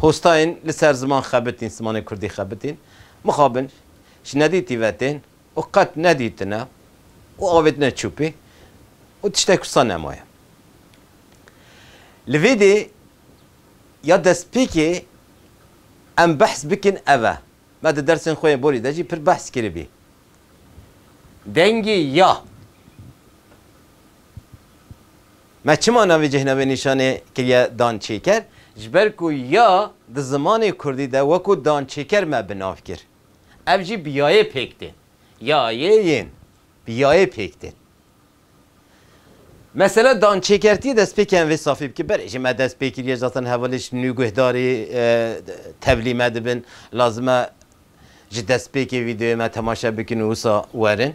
Hostayên li ser ziman xebitîn, zimanê kurdî xebitîn, mixabin ji nedîtî ve tên û qet nedîtine û avêtine çûpî û tiştek wisa nemaye. Li vê dê ya destpêkê em behs bikin ev e, me di dersên xwe yên borî de jî pir behs kiribî. Dengê ya. Me çima navê cêhnavê nîşanê kiriye dançêker? Ji ber ku ya di zimanê kurdî de wekû dançêker me bi nav kir. Ev jî bi yayê pêk tên. Ya yê yên. Bi yayê pêk tên. Mesela dançêkertiyê dest pê kiyan vê safî bike. Belê jî me dest pê kiriye zaten hevalê ji nû guhdarî tevlî me dibin. Lazim e ji destpêkê vîdeoyê me temaşe bikin û wisa werin.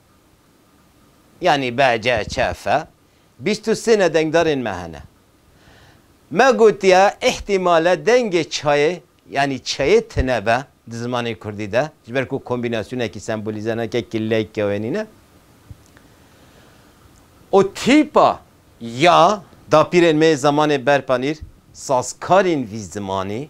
Yanî BCCF bîst û sê ne dengdarên me hene. Me gotiye îhtîmal e dengê çayê yanî çeyê tune be di zimanê kurdî de ji ber ku kombînasyonekî sembolîze nake ki lek ya wê nîne û tîpa ya dapîrên me yê zemanê berpanîr sazkarên vî zimanî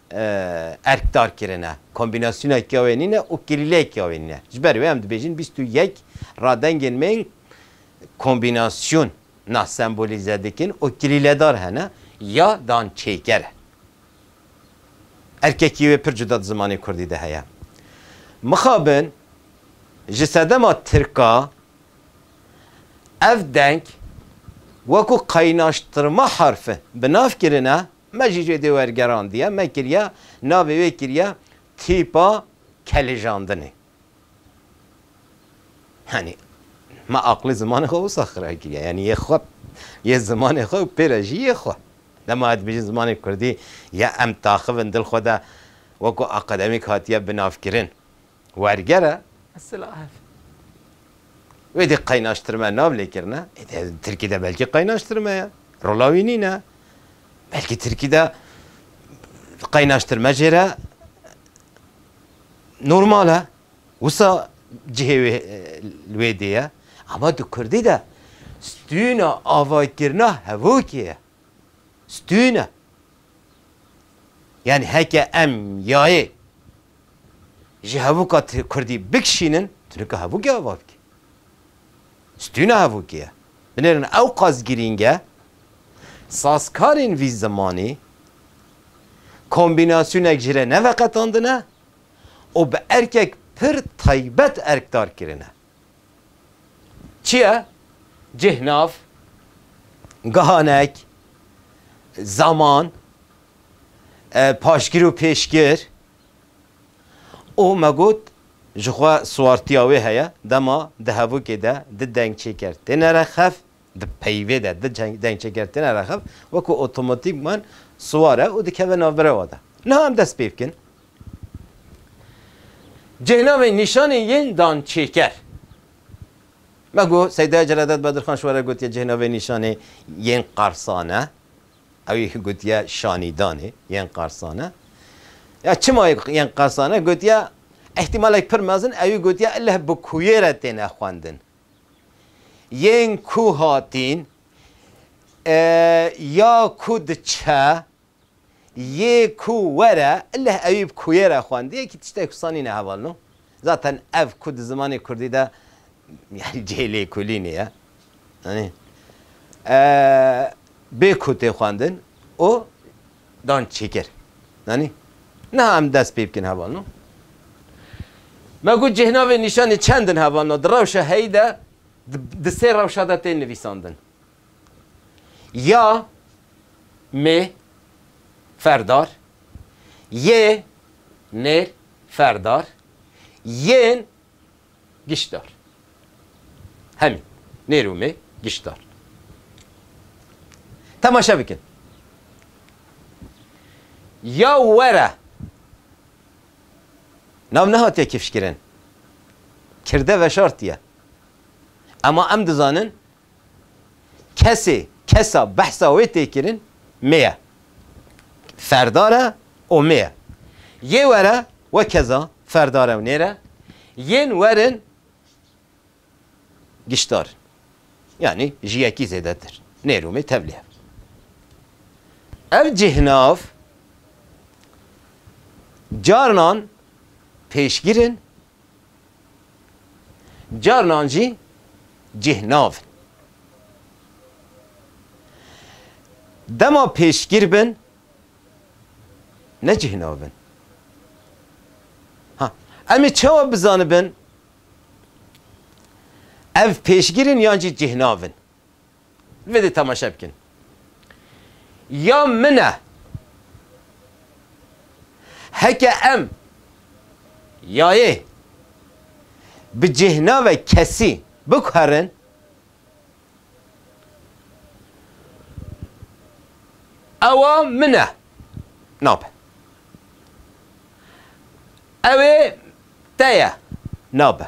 erk dar kirine, kombînasyoneke wê nîne û kilîleyeke wê nîne. Ji ber wê em dibêjin bîst û yek radengên me yên kombînasyon nas sembolîze dikin û kilîledar hene ya dan çêker e. Erkekî wê pir cuda di zimanê kurdî de heye. Mixabin ji sedema tirka ev deng wekû qaynaştirma harfin bi nav kirine. Me jî jê dê wergerandiye, me kiriye, navê wê kiriye tîpa kelijandinê. Yanî me aqilê zimanê xwe wisa xira kiriye, yanî yê xwe, yê zimanê xwe û pê re jî yê xwe. Dema ez dibêjim zimanê kurdî ya em taxivin dil xwe de wekû akademîk hatiye binavkirin. wergere. Silahev. Wê dê qeynaştirme nav lêkirine. Tirkî de belkî qeynaştirme ye. Rola wî nîne. Belkî Tirkî de qeynaştirme jê re normal e. Wisa cihê wê li wê dê ye. Ama di Kurdî de stûna avaykirina hevokê ye. Stûn e. Yanî heke em yayê ji hevûka kurdî bikişînin, tu nika hevûkê ava bikî. Stûna hevûkê ye. Binêrin ewqas girîng e sazkarên vî zimanî kombînasyonek ji re neveqetandine û bi erkek pir taybet erkdar kirine. Çi ye? Cih, nav, gihanek, zaman, paşgir û pêşgir û me got ji xwe siwartiya wê heye dema di hevokê de di dengçêkertêne re xev, di peyvê de di dengçêkertêne re xev wekû otomatîkman siwar e û dikeve navberewa de. Niha em dest pê bikin. Cêhnavên nîşanên yên dan çêker. Me ku Seyda Celadet Bedirxan ji we re gotiye cêhnavê nîşanê yên Qarsan e, ew ê gotiye Şanîdanê yên Qarsan e. Ya çima yê yên Qarsan e gotiye îhtîmalek pir mezin ew ê gotiye ileh bi kuyê re têne xwendin. Yên ku hatîn ya ku diçe Yê ku were leh ewî bi kuyê re xwend yekî tiştê ku sanî ne heval no. Zaten ev ku di zimanê kurdî de yanî cihê lêkolînê ye. Yanî bê ku tê xwendin û dan çêkir. Yanî niha em dest pê bikin heval no. Me got cêhnavên nîşanê çend in heval no. Di rewşa heyî de di sê rewşa de tên nivîsandin. Ya mê ferdar yê nêr ferdar yên giştdar. Hemî nêr û mê giştdar. Temaşe bikin. Ya were nav nehatiye kifşkirin. Kirde veşartiye. Ema em dizanin Kesê, kesa behsa wê tê kirin mi ye. Ferdar e û mi ye. Yê were wekeza ferdar e û nêr e. Yên werin giştdar in. Yanî ji yekî zêdetir. Nêr û mi tevlî hev. Ev cihnav carinan pêşgir in Carinan jî cih navin. Dema pêşgir bin ne cih navin. Ha, em ê çawa bizanibin ev pêşgir in yan jî cih navin? Vedê temaşe bikin. Ya min e. Heke em yayê bi cêhnave kesî bikuherin, ewa min e. Nabe. Ewê te ye. Nabe.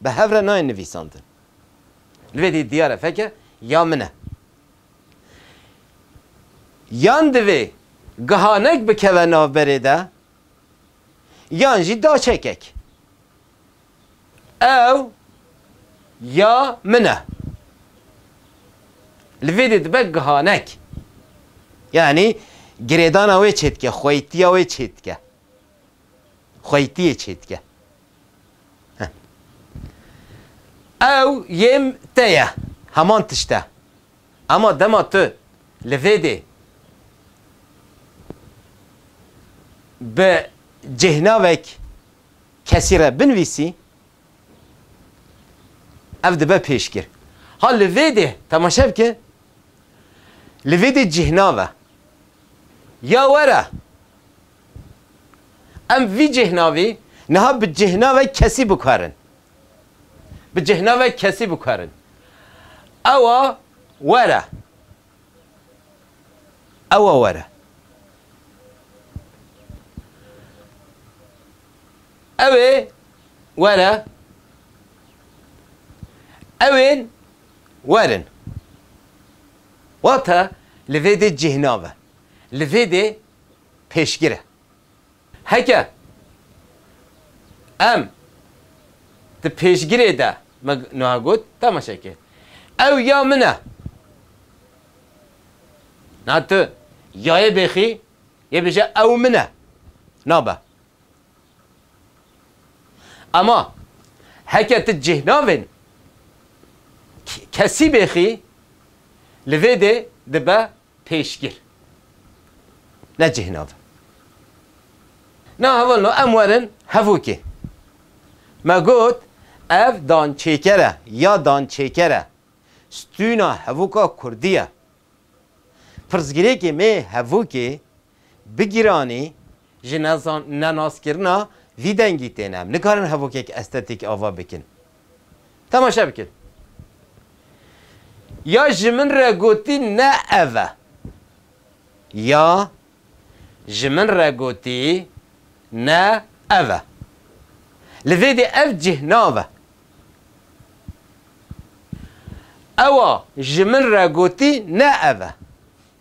Bi hev re nayên nivîsandin. Li vê dî diyar e feke ya min e. Yan divê gihanek bikeve navberê de yan jî daçekek. Ew ya min e. Li vê dî dibe gihanek. Yanî girêdana wê çêdike, xweytiya wê çêdike. Xweytiyê çêdike. Ew yêm te ye, heman tişt e. Ema dema tu li vê dê bi cêhnavek kesî re binivîsî, ev dibe pêşgir. Ha li vê dê, temaşe bike, li vê dê cêhnav e. Ya were, Em vî cêhnavî niha bi cêhnavek kesî bikarin. Bi cêhnavek kesî bikarin. Ewa were. Ewa were. Ew ê were. Ew ên werin. Wate li vê dê cêhnav e. Li vê dê. pêşgir e. Heke em di pêşgirê de me niha got temaşeke ew ya min e. Niha tu yayê bêxî yê bêje ew min e. Nabe. Ema heke tu cîhnavên kesî bêxî li vê dê dibe Pêşgir. Ne cih nav e. Na heval no em werin hevokê. Me got ev dançêker e ya dançêker e. Stûna hevoka kurdî ye. Pirsgirêkê mê hevokê Bi giranî ji nenaskirina vî dengî têne. Em nikarin hevokek estetîk ava bikin. Temaşe bikin. Ya ji min re gotî ne ev e. Ya ji min re gotî ne ev e. Li vê dê ev cih nav e. Ewa ji min re gotî ne ev e.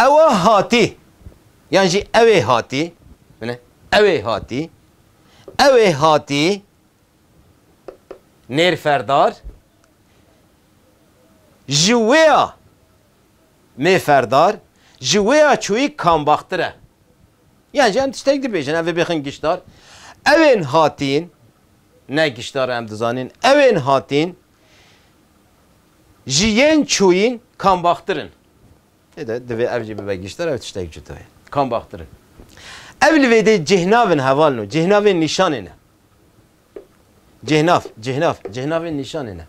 Ewa hatî yan jî ewê hatî bine ewê hatî ewê hatî nêrferdar ji wêya mêferdar ji wêya çûyî kambaxtir e. Yan jî em tiştek dibêjin ev bêxin giştar. Ewên hatîn ne giştar em dizanin ewên hatîn Ji yên çûyîn kam baxtir in? Lê de divê ev jî bibe giştir, ev tiştek cuda ye. Kam baxtir in? Ev li vê dê cihnav in hevalin û cihnavên nîşanê ne. Cihnav, cihnav, cihnavên nîşanê ne.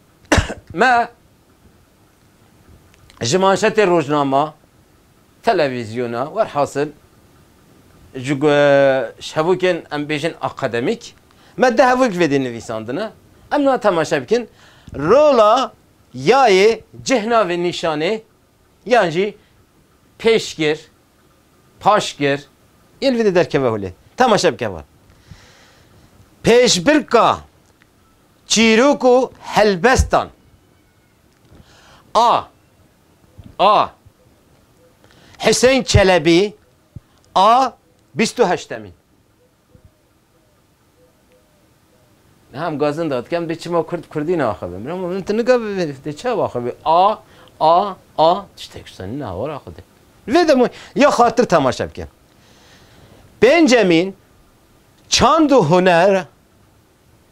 Me ji manşetê rojnama Televîzyona werhasil ji şevokên em bêjin akademîk me di hevok vê dê nivîsandine. Em niha temaşe bikin rola yayê cih navê nîşanê yan jî pêşgir, paşgir yên li vê dê derkeve holê. Temaşe bike wan. Pêşbirka çîrok û helbestan. A. A. Hüseyin Çelebi A. Bîst û heştemîn Hem gazin da dikem dê çima kurd kurdî naxivin. Bira min tu nika dê çav axivî. A a a tiştek ştanî ne hawar axivî. Vê demû ya xatir temaşe bikin. Pêncemîn çand û huner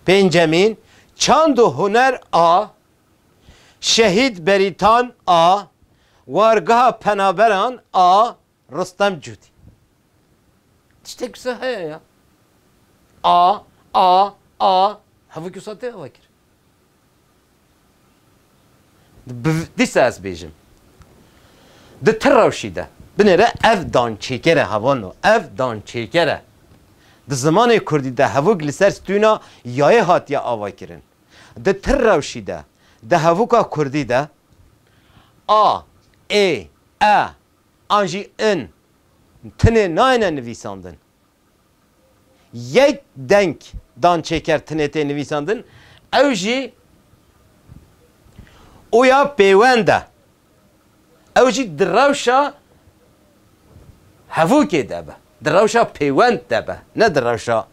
pêncemîn çand û huner a Şehîd Berîtan a Wargeha Penaberan a Ristem Cûdî tiştek wisa heye ya? A a a hevok wisa tê ava kir. Dîsa ez bêjim. Di ti rewşî de binêre ev dançêkere hevano ev dançêkere. Di zimanê kurdî de hevok li ser stûna yayê hatiye avakirin. Di ti rewşî de, di hevûka kurdî de a, ê, e an jî in tinê nayêne nivîsandin. Yek deng dan çêker tinê tê nivîsandin, ew jî û ya pêwend e. Ew jî di rewşa hevokê de be, di rewşa pêwend de be, ne di rewşa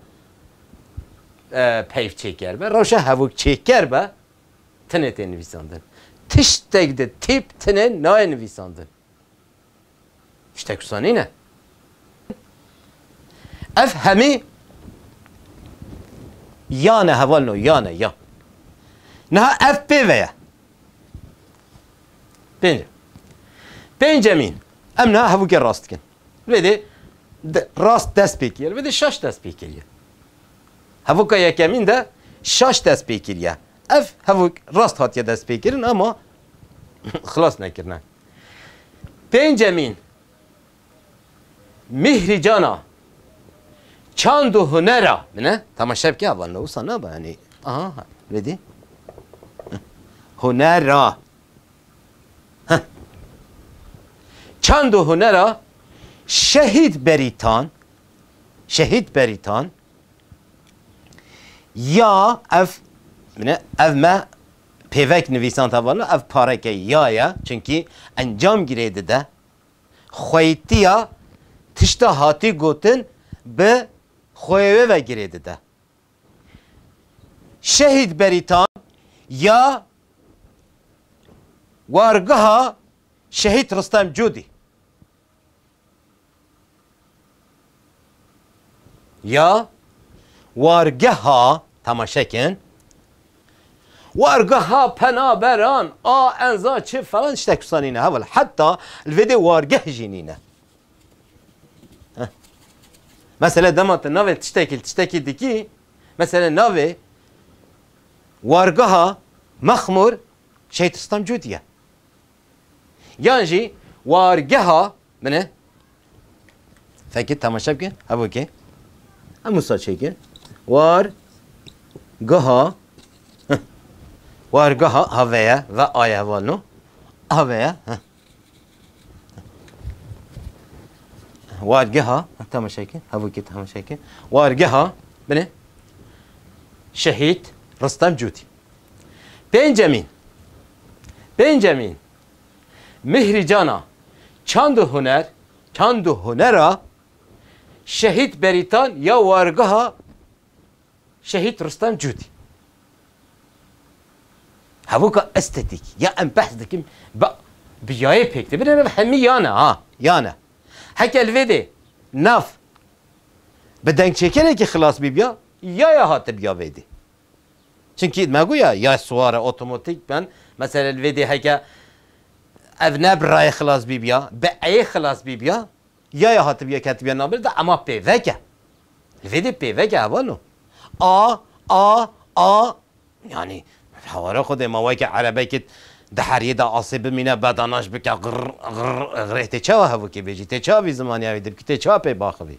peyvçêker be, rewşa hevokçêker be, tinê tê nivîsandin. Tiştek di tîp tinê nayê nivîsandin. Tiştek wisa nîne. Ev hemî ya ne heval no ya ne ya. Niha ev pê ve ye. Pênce. Pêncemîn em niha hevûkê rast dikin. Lê dê rast dest pê kiriye. Lê dê şaş dest pê kiriye. Hevûka yekemîn de şaş dest pê kiriye. Ev hevûk rast hatiye dest pê kirin ama xilas nekirine. Pêncemîn, Mîhrî Cana, Çand û Hunera bine. Tama şevkê ava ne wisa naba yanî. Aha, ha, vedî. Hunera. Çand û Hunera Şehîd Berîtan, Şehîd Berîtan Ya ev bine ev me pêvek nivîsan tevana ev pareke ya ye çunkî encam girê dide xweytiya tişta hatî gotin bi xweyê wê ve girê dide. Şehîd Berîtan ya wargeha Şehîd Ristem Cûdî Ya wargeha temaşe kin. Wargeha penaberan a enza çi falan tiştek wisa nîne heval. Heta li vê dê wargeh jî nîne. Mesela dema tu navê tiştekî tiştekî dikî mesela navê wargeha mexmûr şehîd Stam Cûdî ye. Yan jî wargeha bine fekê temaşe bike hevokê hemû saçêkê war geha wargeha haveye ve aye hevalno haveye wargeha temaşeke hevokê temaşeke wargeha bine şehîd Ristem Cûtî. Pêncemîn, Pêncemîn, Mihrî Cana, Çand û Huner, Çand û Huner a Şehîd Berîtan ya Wargeha Şehîd Rustem Cûdî. Hevûka estetîk ya em behs dikim bi bi yayê pêk de. Binêr ev hemî yan e ha, yan e. Heke li vê de nav bi dengçêkerekî xilas bîbiya, yaya hatibiya vê dê. Çimkî me got ya yay siware otomatîk ben. Mesela li vê dê heke ev ne bi rayê xilas bîbiya, bi eyê xilas bîbiya, yaya hatibiya ketibiya navbera de ema pêvek e. Li vê dê pêvek e heval o. A, a, a, yanî heware xwe dê ma weke erebekê di heriyê de asê bimîne bedanaş bike girr, girr, girr. Tê çawa hevokê bêjî? Tê çawa vî zimaniya wî dibikî? Tê çawa pê biaxivî?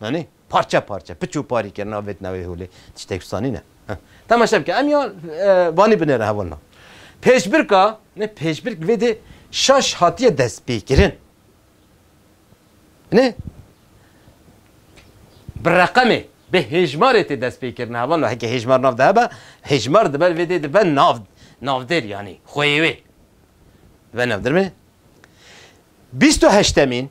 Anî? Parçe parçe, piç û parî kirina vê tnewê holê tiştek wisa nîne. Temaşe bike, em ya vanî binêre hevalna. Pêşbirka, nê pêşbirk vê dê şaş hatiye destpêkirin. Nê bi reqemê, bi hêjmarê tê destpêkirin hevalna. Heke hêjmar nav de hebe, hêjmar diber vê dê dibe nav, navdêr yanî xweyê wê. Dibe navdêr bê. Bîst û heştemîn.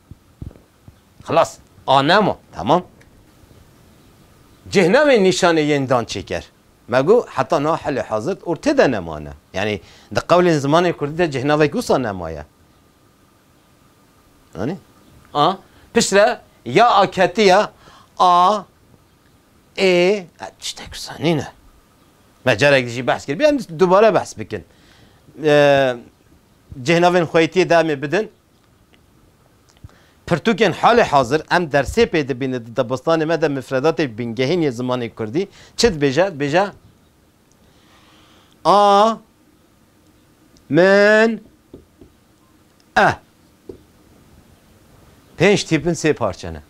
Xilas, a nema, temam. Cih nabê nîşanê yên dan çêker. Me got, heta niha halê hazir û tê de nema ne. Yanî di qewlên zimanê kurdî de cihnavek wisa nema ye. Anî? A, pişt re ya a ketiye, a, ê, e, tiştek wisa nîne. Me carek di jî behs kir, bê em dubare behs bikin. Cihnavên xweytiyê de em ê bidin. Pirtûkên halê hazir em dersê pê dibînin di dibistanê me de mifredatê bingehîn yê zimanê kurdî çi dibêje? Dibêje A min e. Pênc tîpin sê parçe ne.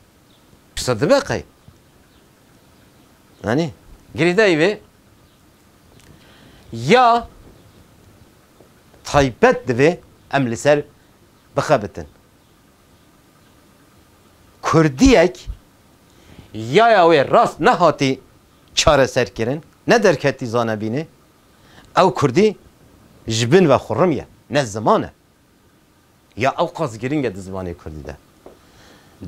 Pirsa dibe qey. Anî? Girîdayî vê ya Taybet divê em li ser bixebitin. Kurdiyek yaya wê rast nehatî çareserkirin, ne derketî zanebînê, ew kurdî ji bin ve xurrim ye, ne ziman e. Ya ew qas giring e di zimanê kurdî de.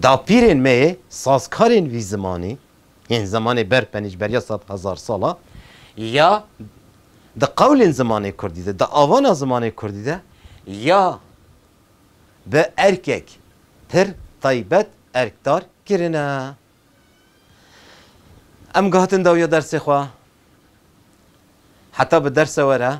Dapîrên me yê sazkarên vî zimanî yên zemanê ber penîcberiya sed hezar sal a ya di qewlên zimanê kurdî de, di avana zimanê kurdî de ya bi erkek pir taybet erkdar kirine. Em guhatin dawiya dersê xwe heta bi derse were.